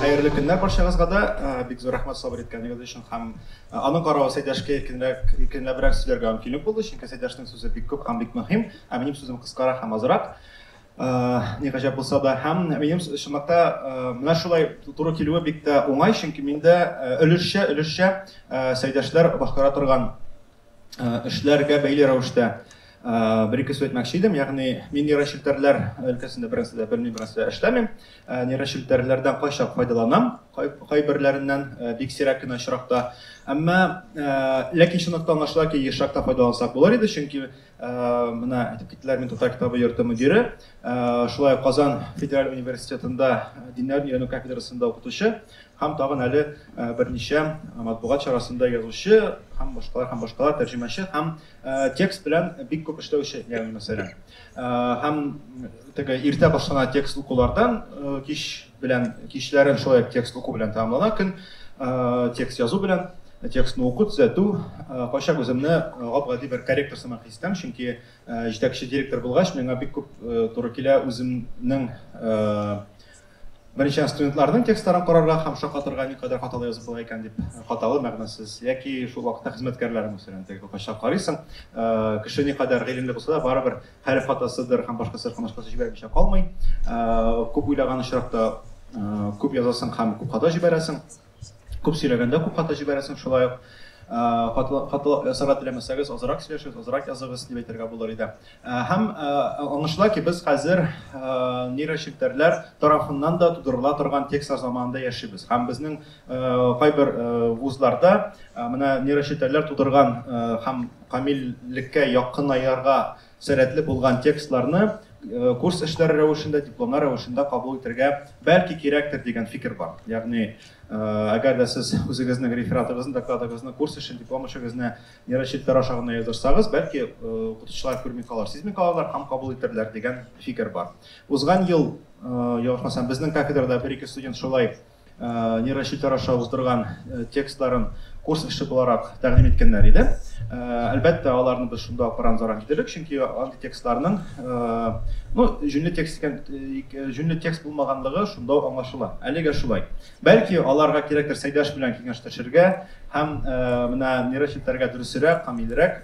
Хәерле көннәр барчагызга да. Бик зур рәхмәт сабыр иткәнегез өчен һәм аның каравы Сәйдәшкә иркенрәк, иркенләбрәк сөйләргә мөмкинлек булды, чөнки Сәйдәшнең сүзе бик күп һәм бик мөһим, ә минем сүзем кыскарак һәм азрак. Ни гаҗәп булса да, һәм минем чынлыкта менә шулай туры килүе бик тә уңай, чөнки миндә өлешчә, өлешчә Сәйдәшләр башкара торган эшләргә бәйле рәвештә бер ике сүз әйтмәкче идем. Ягъни мин нейрочелтәрләр өлкәсендә беренче дә белмим, беренче дә эшләмим. Нейрочелтәрләрдән кайчак файдаланам, кайберләреннән бик сирәк кенә очракта. Әмма ләкин шунысы аңлашыла ки, ешрак та файдалансак булыр иде, чөнки менә әйтеп киттеләр, мин татар китабы йорты мөдире, шулай ук Казан федераль университетында диннәрне өйрәнү кафедрасында укытучы. Һәм тагын әле берничә матбугат чарасында язучы һәм башкалар һәм башкалар тәрҗемәче һәм текст белән бик күп эшләүче, ягъни мәсәлән. Һәм теге иртә башлана текст укулардан кич белән кичләрен шулай текст уку белән тәмамлана көн текст язу белән текстны уку төзәтү кайчак үземне гап-гади бер корректор сымак хис итәм, чөнки җитәкче директор булгач, миңа бик күп туры килә үземнең Беренчедән, студентларның текстларын карарга һәм шаккатырга никадәр хаталы язып була икән дип, хаталы, мәгънәсез, яки шул вакытта хезмәткәрләре, мәсәлән, теге кокача карыйсың, кеше никадәр гыйлемле булса да, барыбер хәреф хатасыдыр һәм башкасы һәм башкасы җибәрмичә калмый. Күп уйлаган очракта күп язасың һәм күп хата җибәрәсең. Күп сөйләгәндә күп хата җибәрәсең шулай ук хатлы ясарга теләмәсәгез азрак сөйләшегез, азрак языгыз дип әйтергә булыр иде. Һәм аңлашыла ки, без хәзер нейрочелтәрләр тарафыннан да тудырыла торган текстлар заманында яшибез. Һәм безнең кайбер вузларда менә нейрочелтәрләр тудырган һәм камиллеккә якынаерга Сәләтле булган текстларны курс эшләре рәвешендә, дипломнар рәвешендә кабул итәргә бәлки кирәктер дигән фикер бар. Ягъни, әгәр дә сез үзегезнең рефератыгызны, докладыгызны, курс эшен, диплом эшегезне нейрочетләр аша гына язырсагыз, бәлки укытучылар күрми калыр, сизми калырлар һәм кабул итәрләр дигән фикер бар. Узган ел, ялгышмасам, безнең кафедрада бер-ике студент шулай нейрочелтәр аша уздырган текстларын курс эше буларак тәкъдим иткәннәр иде. Әлбәттә, аларны без шунда ук рамзарак итәбек, чөнки андый текстларның, ну, җүнле текст икән, җүнле текст булмаганлыгы шунда ук аңлашыла. Әлегә шулай. Бәлки, аларга кирәктер Сәйдәш белән киңәшләшергә һәм менә нейрочелтәргә дөресрәк, камилрәк,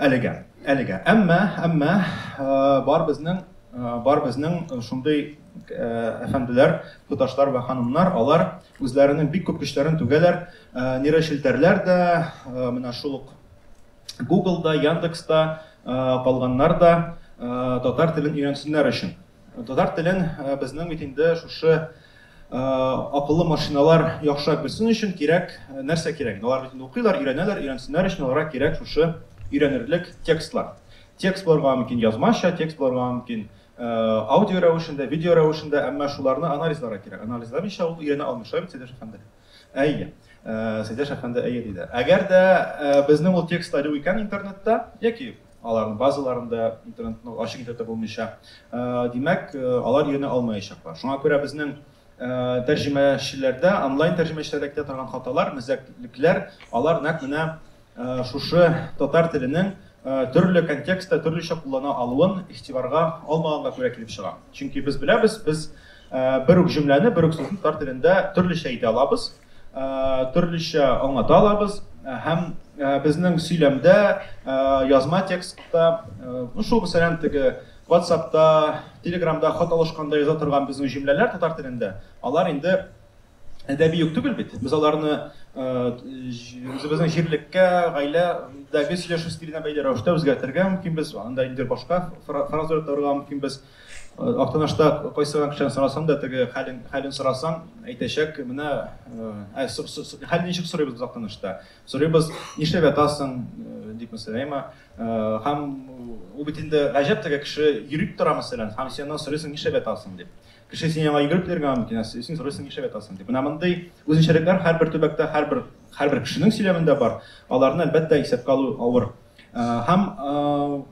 Әлегә, әлегә. Әмма, әмма бар безнең бар безнең шундый әфәнделәр, туташлар вә ханымнар, алар үзләренең бик күп көчләрен түгәләр, нейрочелтәрләр дә, менә шул ук Google-да, Яндекс-та калганнар да татар телен өйрәнсеннәр өчен. Татар телен безнең бит инде шушы акыллы машиналар яхшырак белсен өчен кирәк, нәрсә кирәк? Алар бит инде укыйлар, өйрәнәләр, өйрәнсеннәр өчен аларга кирәк шушы өйрәнерлек текстлар. Текст булырга мөмкин язмача, текст булырга мөмкин аудио рәвешендә, видео рәвешендә, әмма шуларны анализларга кирәк. Анализламыйча ул өйрәнә алмый, шулай бит, Сәйдәшев әфәнде? Әйе. Э, Сәйдәш әфәнде әйе диде. Әгәр дә э, безнең ул текстлар юк икән интернетта, яки аларның базаларында интернетны ачык итә булмыйча, э, димәк, алар йөренә алмаячаклар. Шуңа күрә безнең тәрҗемәчеләрдә, онлайн тәрҗемәчеләрдә китә торган хаталар, мәзәклекләр, алар нәкъ менә Шушы татар теленең төрле контекстта төрлечә куллана алуын игътибарга алмаганга күрә килеп чыга. Чөнки без беләбез, без бер үк җөмләне, бер үк сүзне татар телендә төрлечә әйтә алабыз, төрлечә аңлата алабыз һәм безнең сөйләмдә, язма текстта, шул мәсәлән теге WhatsApp-та, Telegram-да хат алышканда яза торган безнең җөмләләр татар телендә, алар инде Әдәби юк түгел бит. Без аларны үзебезнең җирлеккә, гаиләдәге сөйләшү стиленә бәйле рәвештә үзгәртергә мөмкин без. Анда инде башка фраза торырга мөмкин без. Актанашта кайсы гына кешедән сорасаң да, теге хәлен, хәлен сорасаң, әйтәчәк, менә ә, хәл ничек сорыйбыз без Актанашта? Сорыйбыз, нишләп ятасың, дип мәсәлән, һәм ул бит инде гаҗәп теге кеше йөрик тора мәсәлән, һәм синнән сорыйсың, нишләп ятасың дип. Кеше сине яңа йөгереп килергә аңлый икән, ә син сорыйсың, нишләп ятасың дип. Менә мондый үзенчәлекләр һәрбер төбәктә, һәрбер һәрбер кешенең сөйләмендә бар. Аларны әлбәттә исәпкә алу авыр. Һәм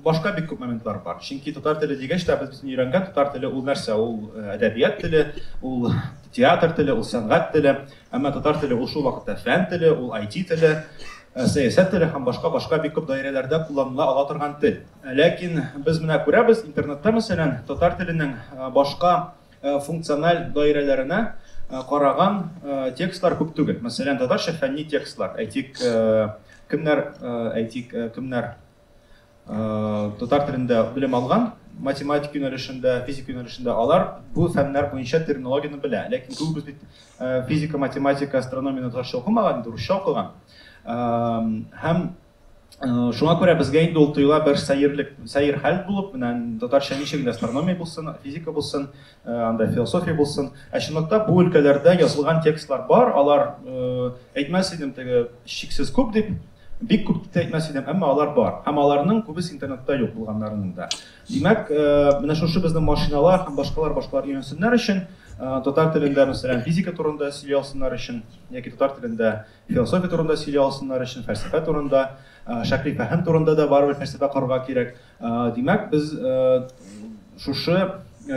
башка бик күп моментлар бар. Чөнки татар теле дигәч тә без битне өйрәнгән татар теле ул нәрсә? Ул әдәбият теле, ул театр теле, ул сәнгать теле. Әмма татар теле ул шул вакытта фән теле, ул IT теле, сәясәт теле һәм башка-башка бик күп даирәләрдә кулланыла ала торган тел. Ләкин без менә күрәбез, интернетта, мәсәлән, татар теленең башка функциональ даирәләренә караган текстлар күп түгел. Мәсәлән, татарча фәнни текстлар, әйтик, кемнәр, әйтик, кемнәр татар телендә белем алган, математика юнәлешендә, физика юнәлешендә, алар бу фәннәр буенча терминологияне белә. Ләкин күбебез бит физика, математика, астрономияне татарча укымаган, русча укыган. Һәм Шуңа күрә безгә инде ул тоела бер сәерлек, сәер хәл булып, менә татарча ничек инде астрономия булсын, физика булсын, анда философия булсын. Ә чынлыкта бу өлкәләрдә язылган текстлар бар, алар әйтмәс идем теге чиксез күп дип, бик күп дип әйтмәс идем, әмма алар бар. Һәм аларның күбесе интернетта юк булганнарының да. Димәк, менә шушы безнең машиналар һәм башкалар башкалар өйрәнсеннәр өчен, татар телендә мәсәлән физика турында сөйли алсыннар өчен, яки татар телендә Философия турында сөйли алсыннар өчен, фәлсәфә турында, шәкли фәһем турында да барыбер фәлсәфә корырга кирәк. Димәк, без шушы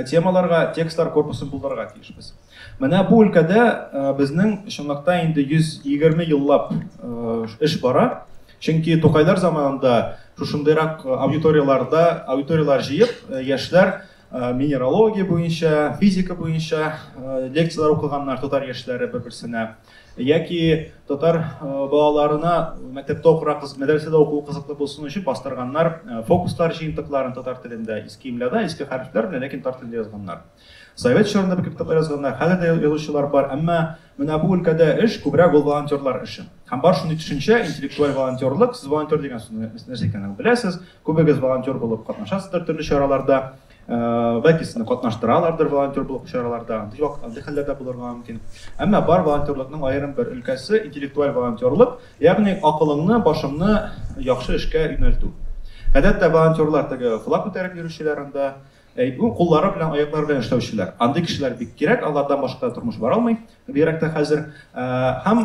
темаларга текстлар корпусын булдырырга тиешбез. Менә бу өлкәдә безнең чынлыкта инде 120 еллап эш бара. Чөнки Тукайлар заманында шушындыйрак аудиторияләрдә, аудиторияләр җыеп, яшьләр минералогия буенча, физика буенча лекцияләр укыганнар татар яшьләре бер-берсенә. Яки татар балаларына мәктәптә укырга кызык, мәдрәсәдә укуы кызыклы булсын өчен бастырганнар фокуслар җыентыкларын татар телендә, иске имляда, иске хәрефләр белән, ләкин татар телендә язганнар. Совет чорында бик күп китаплар язганнар, хәзер дә язучылар бар, әмма менә бу өлкәдә эш күбрәк ул волонтерлар эше. Һәм бар шундый төшенчә, интеллектуаль волонтерлык, сез волонтер дигән сүзне нәрсә икәнен беләсез, күбегез волонтер булып катнашасыздыр төрле чараларда. Бәлки сезне катнаштыралардыр волонтер булып чараларда, андый хәлләр дә булырга мөмкин. Әмма бар волонтерлыкның аерым бер өлкәсе, интеллектуаль волонтерлык, ягъни акылыңны, башыңны яхшы эшкә юнәлтү. Гадәттә волонтерлар теге флаг күтәреп йөрүчеләр анда, куллары белән, аяклары белән эшләүчеләр. Андый кешеләр бик кирәк, алардан башка тормыш бара алмый. Бигрәк тә хәзер һәм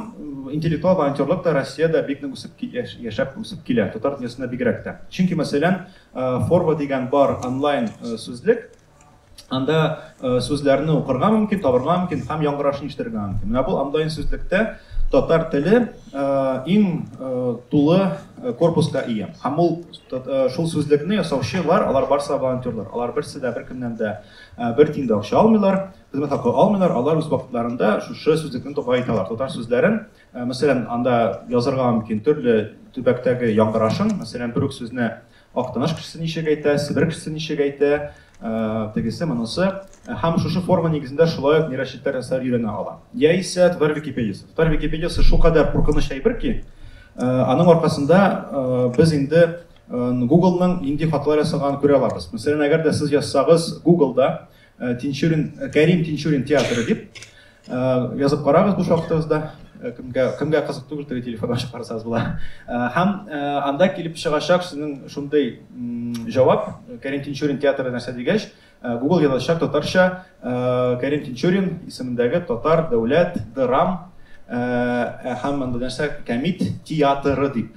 интеллектуаль волонтерлык та Россиядә бик нык үсеп яшәп үсеп килә, татар дөньясында бигрәк тә. Чөнки, мәсәлән, Forva дигән бар онлайн сүзлек, анда сүзләрне укырга мөмкин, табарга мөмкин һәм яңгырашын ишетергә мөмкин. Менә бу онлайн сүзлектә татар теле иң тулы корпуска ия. Һәм ул шул сүзлекне ясаучылар, алар барысы да волонтерлар. Алар берсе дә беркемнән дә бер тин дә акча алмыйлар. Хезмәт хакы алмыйлар, алар үз вакытларында шушы сүзлекне тукай итәләр. Татар сүзләрен, э, мәсәлән, анда язырга мөмкин төрле төбәктәге яңгырашын, мәсәлән, бер үк сүзне Актаныш кешесе ничек әйтә, Себер кешесе ничек әйтә, э, тегесе, монысы. Э, һәм шушы форма нигезендә шулай ук нейрочетләр ясап өйрәнә ала. Яисә татар википедиясе. Татар википедиясе шулкадәр куркыныч әйбер ки, аның аркасында без инде Google-ның нинди хаталар ясаганын күрә алабыз. Мәсәлән, әгәр дә сез язсагыз Google-да Э, Тинчурин, э, Кәрим Тинчурин театры дип э, язып карагыз бу шахтагызда. Кемгә кемгә кызык түгел теге телефонга ачып карасагыз була. Һәм анда килеп чыгачак сезнең шундый җавап Кәрим Тинчурин театры нәрсә дигәч, Google язачак татарча Кәрим Тинчурин исемендәге татар дәүләт драм һәм анда нәрсә Кәмит театры дип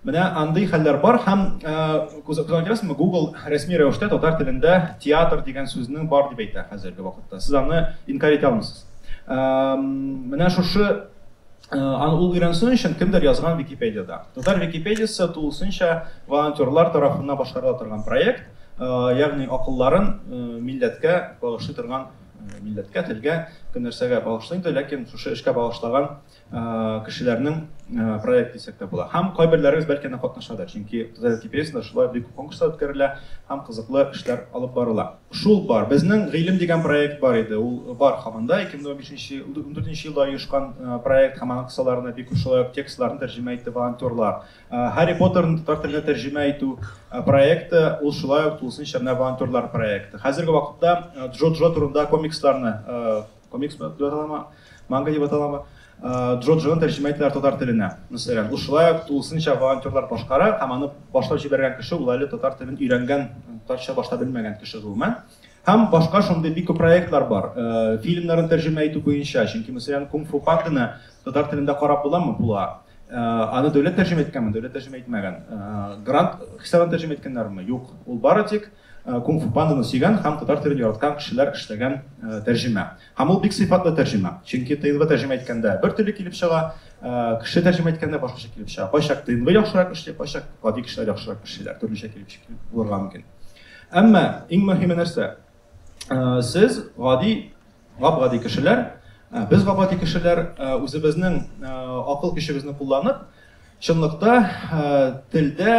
Менә андый хәлләр бар һәм күзалларга китерәсезме, Google рәсми рәвештә татар телендә театр дигән сүзне бар дип әйтә хәзерге вакытта. Сез аны инкарь итә алмыйсыз. Менә шушы аны ул өйрәнсен өчен кемдер язган Википедиядә. Татар Википедиясе тулысынча волонтерлар тарафыннан башкарыла торган проект, ягъни акылларын милләткә багышлый торган, милләткә, телгә, кем нәрсәгә багышлый инде, ләкин шушы эшкә багышлаган кешеләрнең проекты дисәк тә була. Һәм кайберләрегез бәлки анда катнашадыр, чөнки Туза Википедиясендә шулай бик күп конкурслар үткәрелә һәм кызыклы эшләр алып барыла. Шул бар. Безнең Гыйлем дигән проект бар иде, ул бар һаман да, 2015-2014 елда оешкан проект һәм аның кысаларына бик күп шулай ук текстларны тәрҗемә итте волонтерлар. Һарри Поттерны татар теленә тәрҗемә итү проекты, ул шулай ук тулысынча менә волонтерлар проекты. Хәзерге вакытта Джо-Джо турында комиксларны Комикс белән дип аталама, манга дип аталама. Джоджоны тәрҗемә иттеләр татар теленә. Мәсәлән, ул шулай ук тулысынча волонтерлар башкара һәм аны башлап җибәргән кеше ул әле татар телен өйрәнгән, татарча башта белмәгән кеше гомумән. Һәм башка шундый бик күп проектлар бар. Э, фильмнарын тәрҗемә итү буенча, чөнки мәсәлән, Кунг фу панданы татар телендә карап буламы? Була. Э, аны дәүләт тәрҗемә иткәнме? Дәүләт тәрҗемә итмәгән. Э, грант хисабына тәрҗемә иткәннәрме? Юк. Ул бары тик Кунг-фу панданы сөйгән һәм татар телен яраткан кешеләр эшләгән тәрҗемә. Һәм ул бик сыйфатлы тәрҗемә. Чөнки тыйнвы тәрҗемә иткәндә бер төрле килеп чыга, кеше тәрҗемә иткәндә башкача килеп чыга. Кайчак тыйнвы яхшырак эшли, кайчак гади кешеләр яхшырак эшлиләр, төрлечә килеп чыгып булырга мөмкин. Әмма иң мөһиме нәрсә? Сез гади Гап-гади кешеләр, без гап-гади кешеләр үзебезнең акыл көчебезне кулланып, чынлыкта телдә,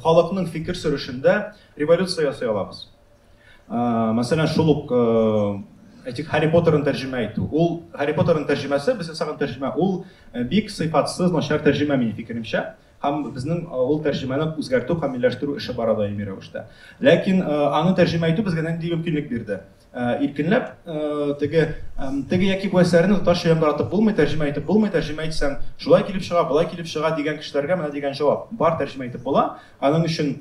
халыкның фикер сөрешендә революция ясый алабыз. Мәсәлән, шул ук әйтик, Һарри Поттерын тәрҗемә итү. Ул Һарри Поттерын тәрҗемәсе, без ясаган тәрҗемә, ул бик сыйфатсыз, начар тәрҗемә минем фикеремчә. Һәм безнең ул тәрҗемәне үзгәртү, камилләштерү эше бара даими рәвештә. Ләкин аны тәрҗемә итү безгә нинди мөмкинлек бирде? Иркенләп теге теге яки бу әсәрне татарча яңгыратып булмый, тәрҗемә итеп булмый, тәрҗемә итсәң, шулай килеп чыга, болай килеп чыга дигән кешеләргә менә дигән җавап. Бар тәрҗемә итеп була, аның өчен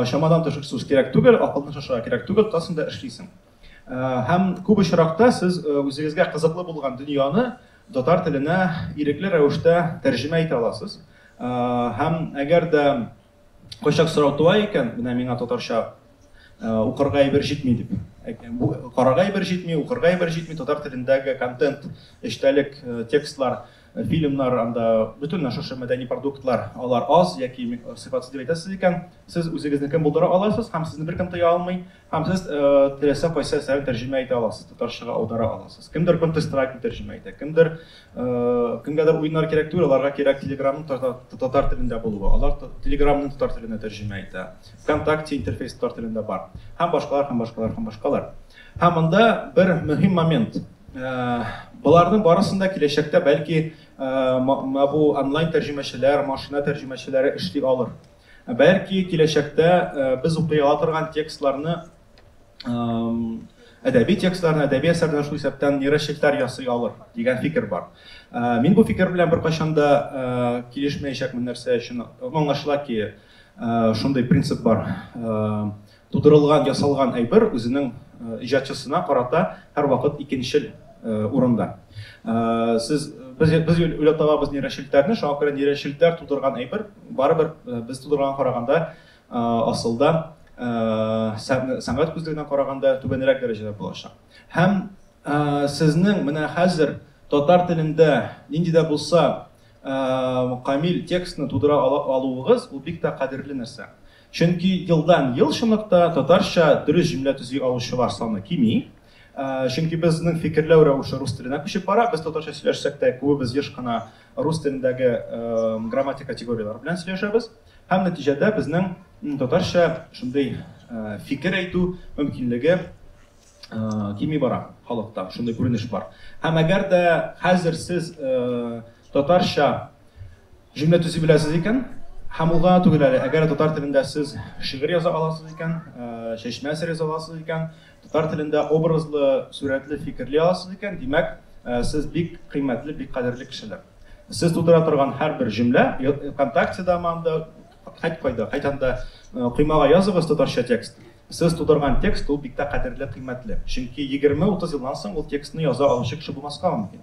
чамадан тыш ресурс кирәк түгел, акылны шашырга кирәк түгел, тотасың да эшлисең. Һәм күп очракта сез үзегезгә кызыклы булган дөньяны татар теленә ирекле рәвештә тәрҗемә итә аласыз. Һәм әгәр дә Кайчак сорау туа икән, менә миңа татарча укырга әйбер җитми дип. Бу карарга әйбер җитми, укырга әйбер җитми, татар телендәге контент, эчтәлек, текстлар, фильмнар, анда бөтен шушы мәдәни продуктлар, алар аз яки сыйфатсыз дип әйтәсез икән, сез үзегезне кем булдыра аласыз һәм сезне беркем тыя алмый, Һәм сез теләсә кайсы әсәрен тәрҗемә итә аласыз, татарчага аудара аласыз. Кемдер контестрайтны тәрҗемә итә, кемдер, кемгәдер уеннар кирәк түгел, аларга кирәк телеграмның татар телендә булуы. Алар телеграмны татар теленә тәрҗемә итә. Вконтакте интерфейс татар телендә бар. Һәм башкалар, һәм башкалар, һәм башкалар. Һәм монда бер мөһим момент. Боларның барысында киләчәктә бәлки бу онлайн тәрҗемәчеләр, машина тәрҗемәчеләре эшли алыр. Ә бәлки киләчәктә без укый ала торган текстларны әдәби текстларны, әдәби әсәрләр шул исәптән нейрочептар ясый алыр дигән фикер бар. Мин бу фикер белән беркайчан да килешмәячәкмен нәрсә өчен? Аңлашыла ки, шундый принцип бар. Тудырылган, ясалган әйбер үзенең иҗатчысына карата һәрвакыт икенчел урында. Сез, без, без уйлап табабыз нейрочелтләрне, шуңа күрә нейрочелтләр тудырган әйбер барыбер без тудырганга караганда асылда сәнгать күзлегеннән караганда түбәнрәк дәрәҗәдә булачак. Һәм сезнең менә хәзер татар телендә нинди дә булса камил текстны тудыра алуыгыз, ул бик тә кадерле нәрсә. Чөнки елдан-ел чынлыкта татарча дөрес җөмлә төзи алучылар саны кими. Чөнки безнең фикерләү рәвеше рус теленә күчеп бара. Без татарча сөйләшсәк тә, күбебез еш кына рус телендәге грамматик категорияләр белән сөйләшәбез. Һәм нәтиҗәдә безнең татарча шундый фикер әйтү мөмкинлеге кими бара халыкта. Шундый күренеш бар. Һәм әгәр дә хәзер сез татарча Җөмлә төзи беләсез икән, һәм ул гына түгел әле, әгәр татар телендә сез шигырь яза аласыз икән, чәчмә әсәр яза аласыз икән, татар телендә образлы, сурәтле, фикерли аласыз икән, димәк, сез бик кыйммәтле, бик кадерле кешеләр. Сез тудыра торган һәрбер җөмлә, ВКонтактеда ма анда, һәт кайда, кайдан да коймага языгыз татарча текст. Сез тудырган текст ул бик тә кадерле, кыйммәтле. Чөнки егерме-утыз елдан соң ул текстны яза алучы кеше булмаска мөмкин.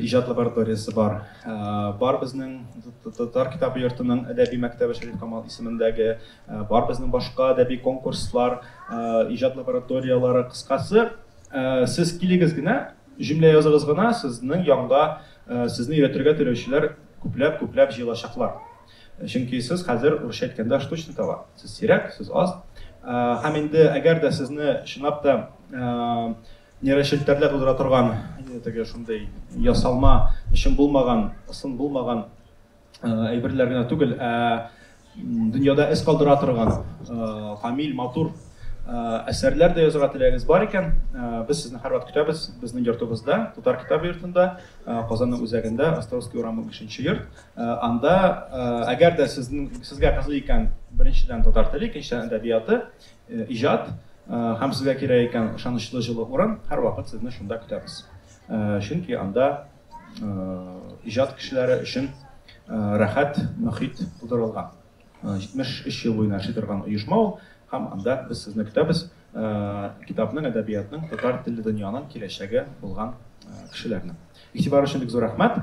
Иҗат лабораториясе бар. Бар безнең Татар китабы йортының әдәби мәктәбе Шәриф Камал исемендәге, бар безнең башка әдәби конкурслар, иҗат лабораторияләре, кыскасы, сез килегез генә, җөмлә языгыз гына, сезнең янга сезне өйрәтергә теләүчеләр күпләп-күпләп җыелачаклар. Чөнки сез хәзер, урысча әйткәндә, штучный товар. Сез сирәк, сез аз. Һәм инде әгәр дә сезне чынлап та Нейрочелтәрләр тудыра торган теге шундый ясалма, чын булмаган, ысын булмаган әйберләр генә түгел, ә дөньяда эз калдыра торган камил, матур әсәрләр дә язырга теләгегез бар икән, без сезне һәрвакыт көтәбез безнең йортыбызда, Татар китап йортында, Казанның үзәгендә, Островский урамы 5 йорт. Анда, әгәр дә сезнең сезгә кызый икән, беренчедән татар теле, икенчедән әдәбияты, Иҗат һәм сезгә кирәк икән ышанычлы җылы урын, һәрвакыт сезне шунда көтәбез. Чөнки анда иҗат кешеләре өчен рәхәт мөхит тудырылган. 73 ел буена эшли торган оешма ул һәм анда без сезне көтәбез, китапның, әдәбиятның, татар телле дөньяның киләчәге булган кешеләрне. Игътибар өчен бик зур рәхмәт!